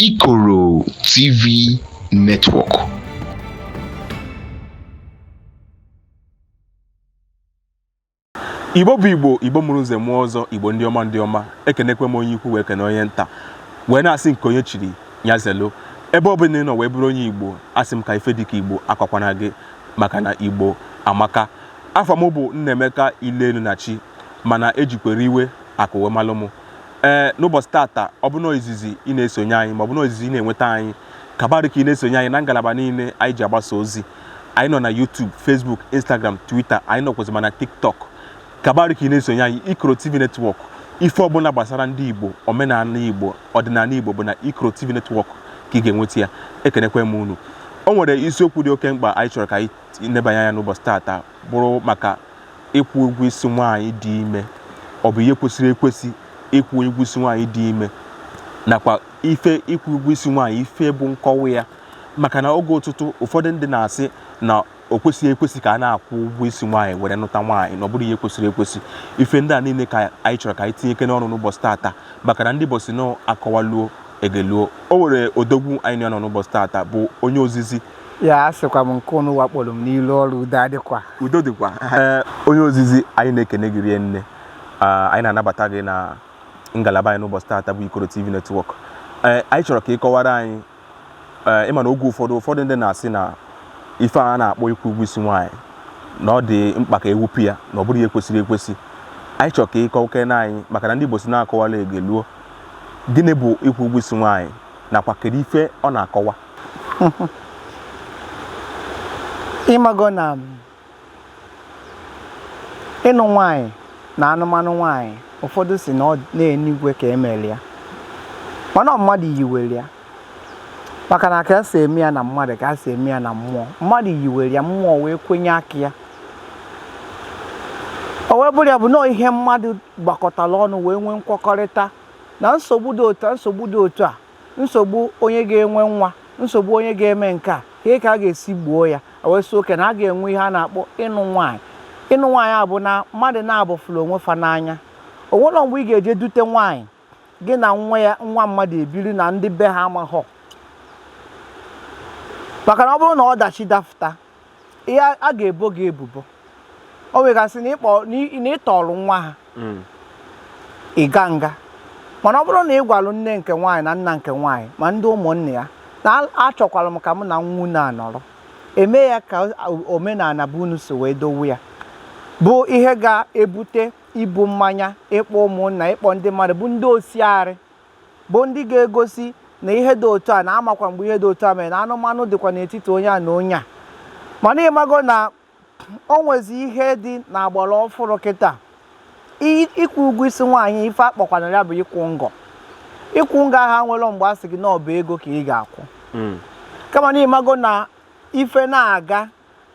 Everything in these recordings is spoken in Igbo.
Ikoro TV Network. igbo bụ igbo igbo mụrụ nze mụọ ọzọ igbo ndị ọma ndị ọma ekenekwe m onye ukwu wee kene onye nta wee na-asị nke onye chiri nya zelu ebe ọ bụla ị nọ wee bụrụ onye igbo asị m ka ife dịka igbo akọkwana gị maka na igbo amaka afa m bụ nnaemeka ile elu na chi mana ejikwere iwe akụ wee malụ m ee n'ụbọchị tata ọ bụ na izizi ị na-esonye anyị ma ọ bụ na izizi ị na-enweta anyị ọ ga-aba uru ka ị na-esonye anyị na ngalaba niile anyị ji agbasa ozi anyị nọ na YouTube Facebook Instagram Twitter anyị nọkwazị ma na TikTok ọ ga-aba uru ka ị na-esonye anyị Ikoro TV Network ife ọbụla gbasara ndị Igbo omenala Igbo ọdịnala Igbo bụ na Ikoro TV Network ka ị ga-enweta ya ekenekwe m unu o nwere isiokwu dị oke mkpa anyị chọrọ ka anyị nebanye anya n'ụbọchị tata bụrụ maka ịkwụ ụgwọ isi nwaanyị dị ime ọ bụ ihe kwesịrị ekwesị ịkwụ ụgwọ isi nwaanyị dị ime nakwa ife ịkwụ ụgwọ isi nwaanyị ife bụ nkọwa ya maka na oge ụtụtụ ụfọdụ ndị na-asị na o kwesịghị ekwesị ka a na-akwụ ụgwọ isi nwaanyị were nụta nwaanyị na ọ bụrọ ihe kwesịrị ekwesị ife ndị a niile ka anyị chọrọ ka anyị tinyekene ọnụ n'ụbọchị taata maka na ndị igbo sị na akọwaluo egeluo o nwere odogwu anyị nọ n'ụbọchị taata bụ onye ozizi ya asịkwa m nke ụnụ wakporo m n'ilu ọrụ udo adịkwa udo dịkwa ee onye ozizi anyị na-ekene gị rie nne Ah, anyị na-anabata gị na ngalaba anyị n'ụbọchị taata bụ ikoro tv netwọk ee anyị chọrọ ka ị kọwara anyị ee ịma na oge ụfọdụ ụfọdụ ndị na-asị na ife a na-akpọ ịkwụ ụgwọ isi nwaanyị na ọ dị mkpa ka ewepụ ya na ọ bụrọ ihe kwesịrị ekwesị anyị chọrọ ka ị kọwakene anyị maka na ndị igbo sị na akọwaluo egeluo gịnị bụ ịkwụ ụgwọ isi nwaanyị nakwa kedu ife ọ na-akọwa ịmago na ịnụ nwanyị na anụmanụ nwanyị ụfọdụ sị na n'enigwe ka emeli ya mana mmadụ yiwere ya maka na ka esi eme ya na mmadụ ka esi eme ya na mmụọ mmadụ yiwere ya mmụọ wee kwenye aka ya o wee bụrụ ya bụ na ihe mmadụ gbakọtara ọnụ wee nwee nkwekọrịta na nsogbu dị otu nsogbu dị otu a nsogbu onye ga-enwe nwa nsogbu onye ga-eme nke a ka ị ka a ga-esi gboo ya wee sị okay na a ga-enwe ihe a na-akpọ ịnụ nwaanyị ịnụ nwaanyị a bụ na mmadụ naabọ fụrụ onwe fa n'anya o nwerọ mgbe ị ga-eje dute nwaanyị gị na nwa mmadụ ebiri na ndị be ha amaghọ maka na ọ bụrụ na ọdachi dafụta ihe a ga-ebo gị ebubo o nwegasị na ị tọọrọ nwa ha hmm. ị gaa nga mana ọ bụrụ na ị gwalụ nne nke nwaanyị na nna nke nwaanyị ma ndị ụmụnne ya na achọkwara m ka m na nwa unu anọrọ eme ya ka omenala be unu si wee dowe ya bụ ihe ga-ebute ibu mmanya ịkpọ ụmụnna ịkpọ ndị mmadụ bụ ndị osiarị bụ ndị ga-egosi na ihe dị otu a na-amakwa mgbe ihe dị otu a mere na anụmanụ dịkwa n'etiti onye a na onye a mana ịmago na o nwezi ihe dị na agbara ọfụrụ kịta ịkwụ ụgwọ isi nwaanyị ife a kpọkwana ya bụ ịkwụ ngọ ịkwụ ngọ ahụ nwere mgbe a sị gị na ọ bụ ego ka ị ga-akwụ hmm. kama na ịmago na ife na-aga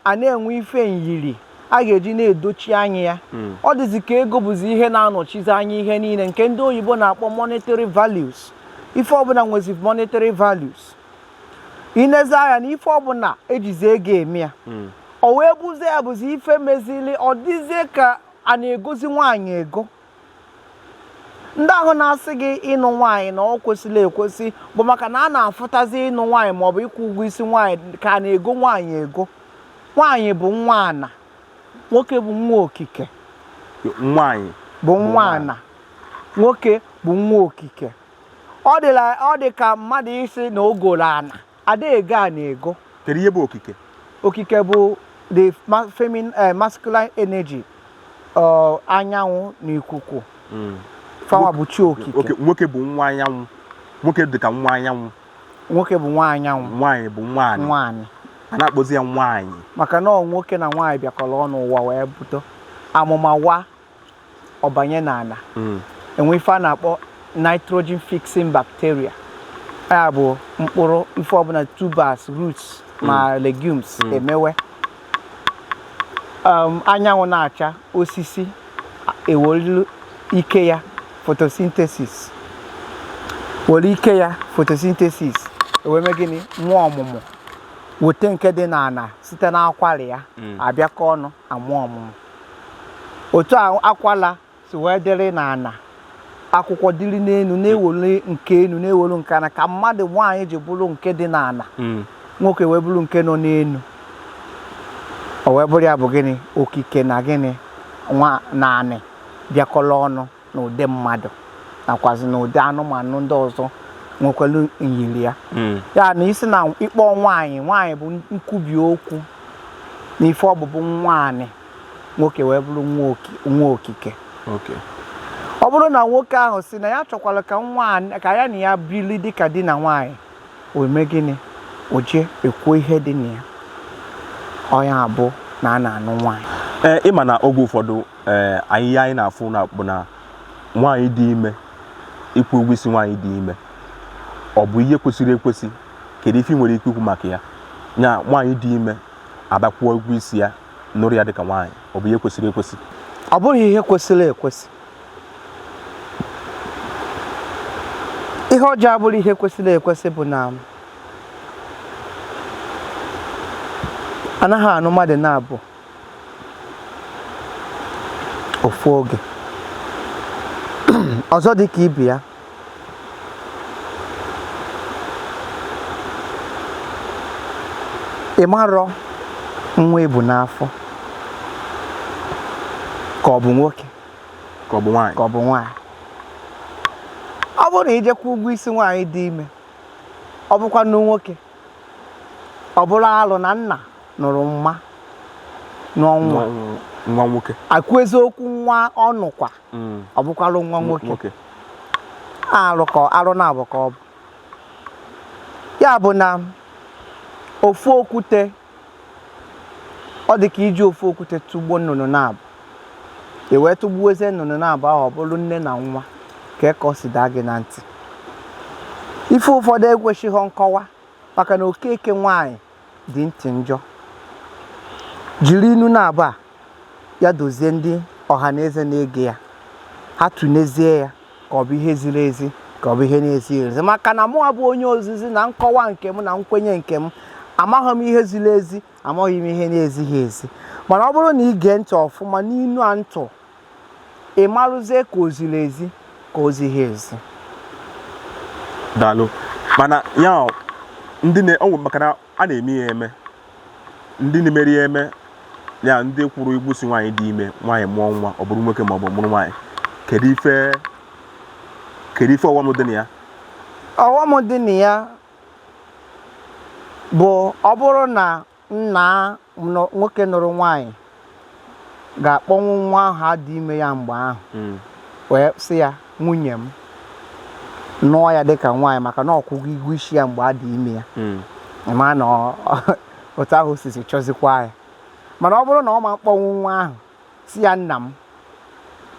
a na-enwe ife nyiri a ga-eji na-edochi anya ya hmm. ọ dịzi ka ego bụzi ihe na-anọchizi anya ihe niile nke ndị oyibo na-akpọ monetary values ife ọbụna nwezi monetary values i nezi anya na ife ọbụna e jizi ego eme ya hmm. o wee bụzie ya bụzi ife mezili ọ dịzie ka a na-egozi nwaanyị ego ndị ahụ na-asị gị ịnụ nwaanyị na ọ kwesịrọ ekwesị bụ maka na a na-afụtazi ịnụ nwaanyị maọbụ ịkwụ ụgwọ isi nwaanyị ka a na-ego nwaanyị ego nwaanyị bụ nwa ana nwoke bụ nwa okike nwaanyị bụ nwa ana nwoke bụ nwa okike ọ dị ka mmadụ ịsị na o goro ana a da-ego ana ego kedu ihe bụ okike okike bụ the ma- femin eh, masculine energy ọ, anyanwụ na ikuku fa nwa bụ chi okike Oke, nwoke bụ nwa anyanwụ nwoke dị ka nwa anyanwụ nwoke bụ nwa anyanwụ nwaanyị bụ nwa anị a na-akpọzi ya nwaanyị maka na ọ nwoke na nwaanyị bịakọrọ ọnụ ụwa wee bido amụma wa ọ banye n'ana hmm. e nwe ife a na-akpọ nitrogen fixing bacteria ya bụ mkpụrụ ife ọbụna tubers roots ma hmm. legumes hmm. emewe um, anyanwụ na-acha osisi ewolu ike ya photosynthesis were ike ya photosynthesis ewee mee gịnị nwa ọmụmụ wote nke dị n'ana site n'akwara ya abịakọ ọnụ amụọ ọmụmụ otu akwala si wee dịrị n'ana akwụkwọ dịrị n'enu na-ewolu nke enu na-ewolu nke ana ka mmadụ nwaanyị ji bụrụ nke dị n'ana hmm. nwoke wee bụrụ nke nọ n'enu o wee bụrụ ya bụ gịnị okike na gịnị nwa na anị bịakọrọ ọnụ na ụdị mmadụ nakwazi na ụdị anụmanụ ndị ọzọ nwekwara nyiri ya hmm. ya na ịsị na ịkpọ nwaanyị nwaanyị bụ nkwubi okwu na ife ọ bụ bụ nwa anị nwoke wee bụrụ nwa okike ọ bụrụ na nwoke ahụ sị na ya chọkwara ka nwaanyị ka ya na ya bili dịka di na nwaanyị o mee gịnị o jee kwụọ ihe dị na ya ọ ya bụ na a na-anụ nwaanyị ịma na oge ụfọdụ ee ihe a anyị na-afụ na bụ na nwaanyị dị ime ịkwụ ụgwọ isi nwaanyị dị ime ọ bụ ihe kwesịrị ekwesị kedu ife ị nwere ike ikwu maka ya nya nwaanyị dị ime a bịa kwụọ ụgwọ isi ya nụrụ ya dịka nwaanyị ọ bụ ihe kwesịrị ekwesị ọ bụghị ihe kwesịrị ekwesị ihe o ji abụrọ ihe kwesịrị ekwesị bụ na anaghị anụ mmadụ naabọ ofu oge ọzọ dị ka ibe ya ị marọ nwa e bu n'afọ ka ọ bụ nwoke ka ọ bụ nwaanyị ọ bụrụ na i je kwụọ ụgwọ isi nwaanyị dị ime ọ bụkwanụ nwoke ọ bụrụ arụ na nna nụrụ mma nụọ nwa nwa nwoke akụ eziokwu nwa ọ nụkwa mm. ọ bụkwalụ nwa nwoke arụ naabọ ka ọ bụ ya bụ na ofu okwute ọ dị ka iji ofu okwute tụgbuo nnụnụ naabọ e wee tụgbuozie nnụnụ naabọ ahụ ọ bụrụ nne na nwa kee ka o si daa gị na ntị ife ụfọdụ ekwesịghị nkọwa maka na okeke nwaanyị dị ntị njọ jiri inu naabọ a ya dozie ndị ọha na eze na-ege ya ha tụnezie ya ka ọ bụ ihe ziri ezi ka ọ bụ ihe na-ezighị ezi maka na mụa bụ onye ozizi na nkọwa nke m na nkwenye nke m amaghị m ihe ziri ezi amaghị m ihe na-ezighị ezi mana ọ bụrụ na ị gee ntị ọfụma n'inu a m tụ ị marụzie ka o ziri ezi ka o zighị ezi daalụ mana ya ndị na-enwe maka na a na-eme ya eme ndị na-emeri ya eme ya ndị kwụrụ ụgwọ isi nwaanyị dị ime nwaanyị mụọ nwa ọ bụrụ nwoke ma ọ bụ mụrụ nwaanyị kedu ife ọghọm dị na ya ọghọm dị na ya bụ ọ bụrụ na nna nwoke nụrụ nwaanyị ga-akpọnwu nwa ahụ a dị ime ya mgbe ahụ hmm. wee sị ya nwunye m nụọ ya dịka nwaanyị maka na ọ kwụgo ụgwọ isi ya mgbe a dị ime ya hmm. ma na otu ahụ sisi chọzikwa ya mana ọ bụrụ na ọ ma mkpọnwu nwa ahụ Sị ya, Nna m.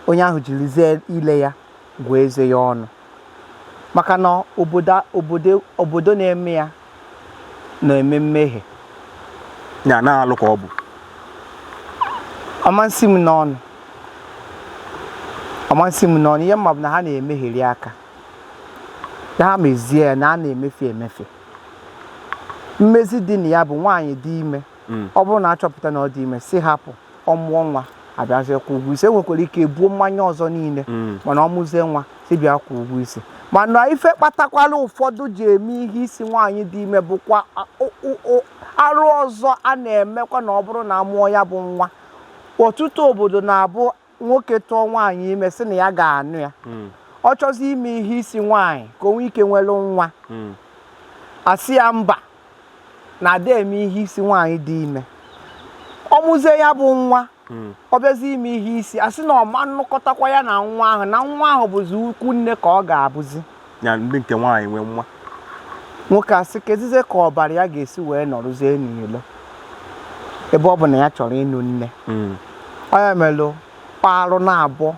Onye ahụ jirizie ile ya gụọ eze ya ọnụ maka na obodo na-eme ya na-eme mmehie na alụ ka ọ bụ ọ masị m n'ọnụ ọ masị m n'ọnụ ihe m ma bụ na ha na-emeheri ya ka ha mezie ya na a na-emefe emefe mmezi dị na ya bụ nwaanyị dị ime hmm. ọ bụrụ na achọpụta na ọ dị ime sị hapụ ọ mụọ nwa abịazie kwụọ ụgwọ isi enwekwara ike ebuo mmanya ọzọ niile hmm. mana ọ mụzie nwa sị bịa kwụọ ụgwọ isi mana ife kpatakwala ụfọdụ ji eme ihe isi nwaanyị dị ime bụkwa arụ ọzọ a na-emekwa na ọ bụrụ na amụọ ya bụ nwa ọtụtụ obodo na-abụ nwoke tụọ nwaanyị ime sị na ya ga-anụ ya hmm. ọ chọzi ime ihe isi nwaanyị ka o nwee ike nwere nwa hmm. asị ya mba na ada eme ihe isi nwaanyị dị ime ọ mụzie ya bụ nwa hmm. ọ bịazi ime ihe isi asị na ọ ma nnụkọtakwa ya na nwa ahụ na nwa ahụ bụzi ukwu nne ka ọ ga-abụzi ya ndị nke nwaanyị nwe nwa nwoke asị kezize ka ọbara ya ga-esi wee nọrụzie n'ilo ebe ọ bụ na ya chọrọ ịnụ nne Mm. ọ ya melụ kpa arụ naabọ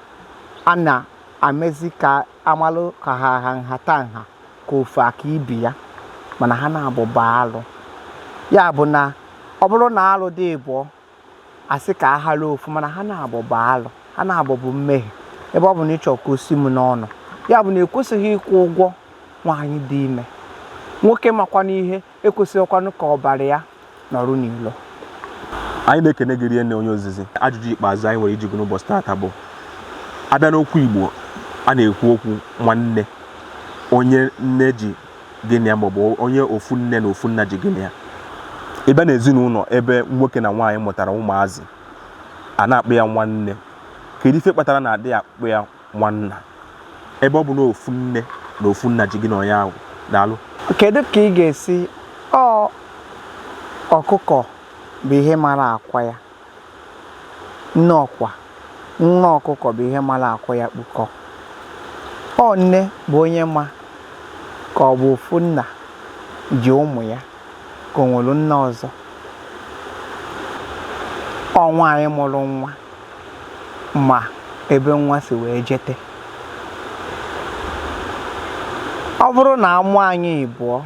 a na-emezi ka amalụ ka ha ha nhata nha ka ofu aka ibe ya mana ha naabọ bụ alụ ya bụ na ọ bụrụ na alụ dị ịbụọ asị ka a ghara ofu mana ha naabọ bụ alụ ha naabọ bụ mmehie ebe ọ bụ na ị chọ ka o si m n'ọnụ ya bụ na ekwesịghị ịkwụ ụgwọ nwaanyị dị ime nwoke makwanụ ihe ekwesịghịkwanụ ka ọbara ya nọrụ n'ilo anyị na-ekene gị rinne onye ozizi ajụjụ ikpeazụ anyị nwere ịjụ gị n'ụbọchị taata bụ abịa n'okwu Igbo a na-ekwu okwu nwanne onye nne ji gị na ya maọbụ onye ofu nne na ofu nna ji gị na ya ị bịa na ezinụlọ ebe nwoke na nwaanyị mụtara ụmụazị a na-akpọ ya nwanne kedu ife kpatara na adịghị akpọ ya nwanna ebe ọ bụ na ofu nne na ofu nna ji gị na onye ahụ daalụ kedu ka ị ga-esi ọ ọkụkọ bụ ihe mara akwa ya Nne ọkwa nne ọkụkọ bụ ihe mara akwa ya kpukọ. Ọ nne bụ onye ma ka ọ bụ ofu nna ji ụmụ ya ka o nwere nna ọzọ. Ọ nwaanyị mụrụ nwa ma ebe nwa si wee jete. Ọ bụrụ na a mụọ anyị ịbụọ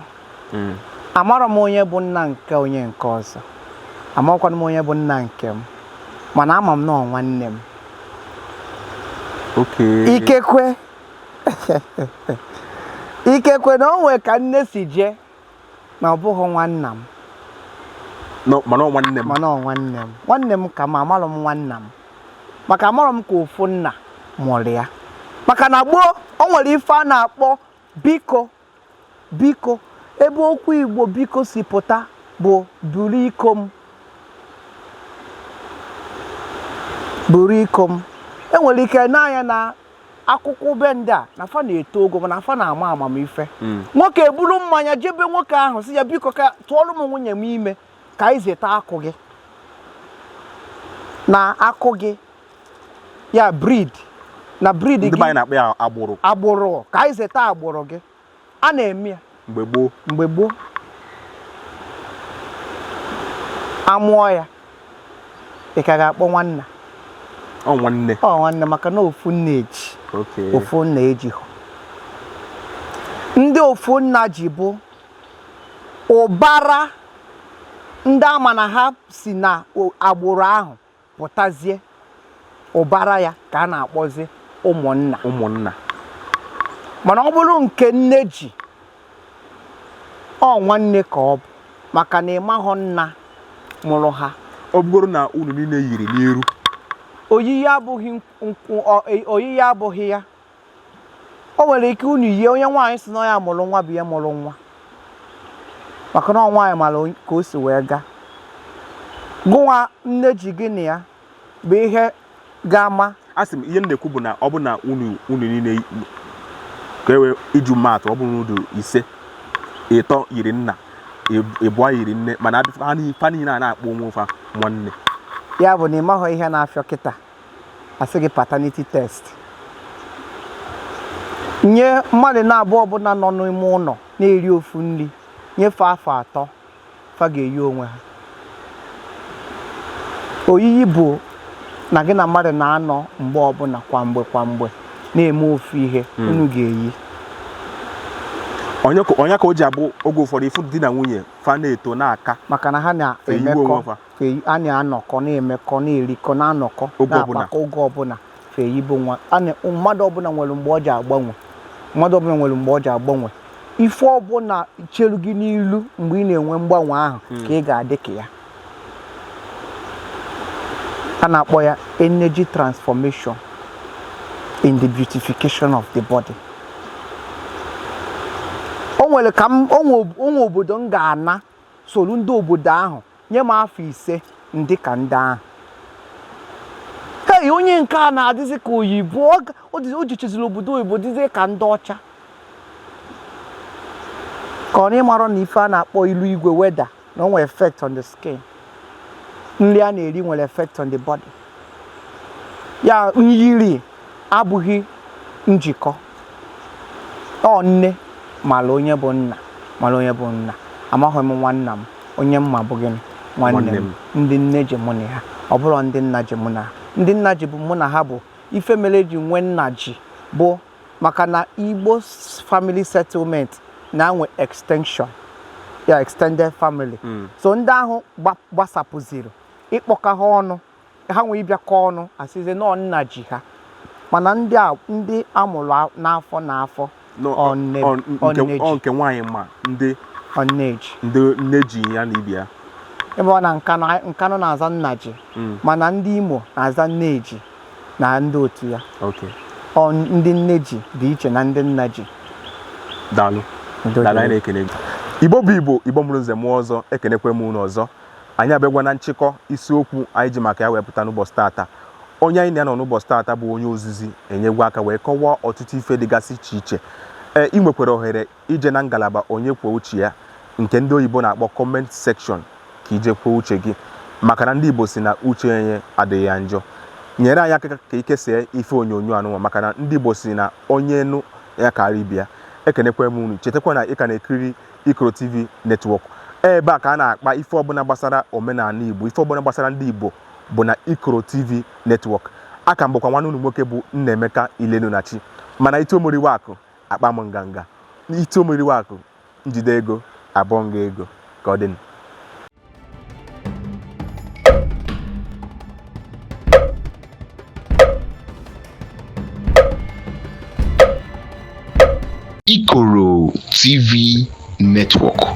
hmm. amarọ m onye bụ nna nke onye nke ọzọ amarọkwanụ m onye bụ nna nke m mana ama m na ọ nwanne m ikekwe ikekwe na o nwee ka nne si jee na ọ bụghị nwanna m mana nwanne m mana nwanne m nwanne m ka m ma amarọ m nwanna m maka amarọ m ka ofu nna mụrụ ya maka na gboo o nwere ife a na-akpọbu iko Biko, ebe okwu Igbo biko si pụta bụ buru iko m. Buru iko m. E nwere ike n'anya na akụkụ be ndị a na fa na-eto ogo mana fa na-ama amamife hmm. nwoke eburu mmanya je be nwoke ahụ sị ya biko ka tụọrọ m nwunye m ime ka anyị zeta akụ gị na akụ gị ya breed na breed gị agbụrụ agbụrụ ka anyị zeta agbụrụ gị a na-eme ya mgbe gboo mgbe gboo a mụọ ya ị ka ga-akpọ nwanna ọ nwanne ọ nwanne maka na ofu nna eji ofu nna ejihọ ndị ofu nna ji bụ ụbara ndị a ma na ha si na agbụrụ ahụ pụtazie ụbara ya ka a na-akpọzi ụmụnna ụmụnna mana ọ bụrụ nke nne ji ọ nwanne ka ọ bụ maka na ị mahọ nna mụrụ ha ọ bụgoro na unu niile yiri n'iru oyiyi abụghị nkwụ oyiyi abụghị ya o nwere ike unu yie onye nwaanyị si na ya mụrụ nwa bụ ya mụrụ nwa maka na nwaanyị mara ka o si wee gaa gụnwa nne ji gị na ya bụ ihe ga-ama asị m ihe m na-ekwu bụ na ọ bụ na unu unu niile ka e wee iji maa atụ ọ bụrụ unu dị ise ịtọ yiri nna ịbụọ yiri nne mana fa niile a na-akpọ onwe fa nwanne ya bụ na ị mahọ ihe na-afịọ kịta a sị gị paternity test nye mmadụ naabụọ ọbụla nọ n'ime ụlọ na-eri ofu nri nye fa afọ atọ fa ga-eyi onwe ha oyiyi bụ na gị na mmadụ na-anọ mgbe ọbụla kwa mgbe kwa mgbe na-eme ofu ihe hmm. unu ga-eyi ọ nya ka o ji abụ oge ụfọdụ ị fụ di na nwunye fa na-eto na-aka maka na ha na-emekọ fa eyi a na-anọkọ na-emekọ na-erikọ na-anọkọ Oge ọbụla. na-akpakọ oge ọbụla fa eyibe onwe ha na- mmadụ ọbụla nwere mgbe o ji agbanwe mmadụ ọbụla nwere mgbe o ji agbanwe ife ọbụla cheru gị n'ilu mgbe ị na-enwe mgbanwe ahụ ka ị ga-adị ka ya a na-akpọ ya energy transformation in the beautification of the body o nwere ka m o nwe o nwe obodo m ga-ana soro ndị obodo ahụ nye m afọ ise m dị ka ndị ahụ hei onye nke a na-adịzi ka oyibo ọ ga- ọ dịzi- o jechaziri obodo oyibo dịzie ka ndị ọcha ka ọ na ị marọ na ife a na-akpọ ilu igwe weather na o nwere effect on the skin nri a na-eri nwere effect on the body ya nyiri abụghị njikọ ọ nne mara onye bụ nna mara onye bụ nna amaghị m nwanna m onye m ma bụ gịnị nwanne m ndị nne ji mụ na ha ọ bụrụ ndị nna ji mụ na ha ndị nna ji bụ mụ na ha bụ ife mere e ji nwee nna ji bụ maka na igbo family settlement na-enwe extension ya extended family hmm. so ndị ahụ gbasapụziri ịkpọkọ ha ọnụ ha nwee ịbịakọ ọnụ a sịzie na ọ nna ji ha mana ndị a ndị a mụrụ a- n'afọ n'afọ No, ọ nne- ọ- ọ nke- nne ji. ọ nke nwaanyị ma ndị ọ nne ji ndị nne ji ya na ibe ya ebe ọ na nkanụ nkanụ na-aza nnaji Mm. mana ndị imo na-aza nneji na ndị otu ya okay ọ ndị nne ji dị iche na ndị nna ji daalụ Udo daalụ dịrị. anyị na-ekele gị igbo bụ igbo igbo mụrụ nze mụọ ọzọ ekenekwe m unu ọzọ anyị abịagwa na nchịkọ isiokwu anyị ji maka ya wee pụta n'ụbọchị taata onye anyị na ya nọ n'ụbọchị taata bụ onye ozizi enyegwa aka wee kọwaa ọtụtụ ife dịgasị iche iche ee ị nwekwara ohere ije na ngalaba onye kwuo uche ya nke ndị oyibo na-akpọ comment section ka i je kwuo uche gị maka na ndị igbo sị na uche onye adịghị ya njọ nyere anyị aka ka i kesaa ife onyonyo anụnwa maka na ndị igbo sị na onye nụ ya kara ibe ya ekenekwa m unu chetakwa na ị ka na-ekiri Ikoro TV Network ebe a ka a na-akpa ife ọbụla gbasara omenala Igbo ife ọbụla gbasara ndị Igbo bụ na Ikoro TV Network a ka m bụkwa nwanne unu nwoke bụ Nnaemeka Ilenunachi mana i tuo m oriwe akụ akpaa m nganga i tuo m oriwe akụ m jide ego abụọ nga ego ka ọ dịnụ Ikoro TV Network.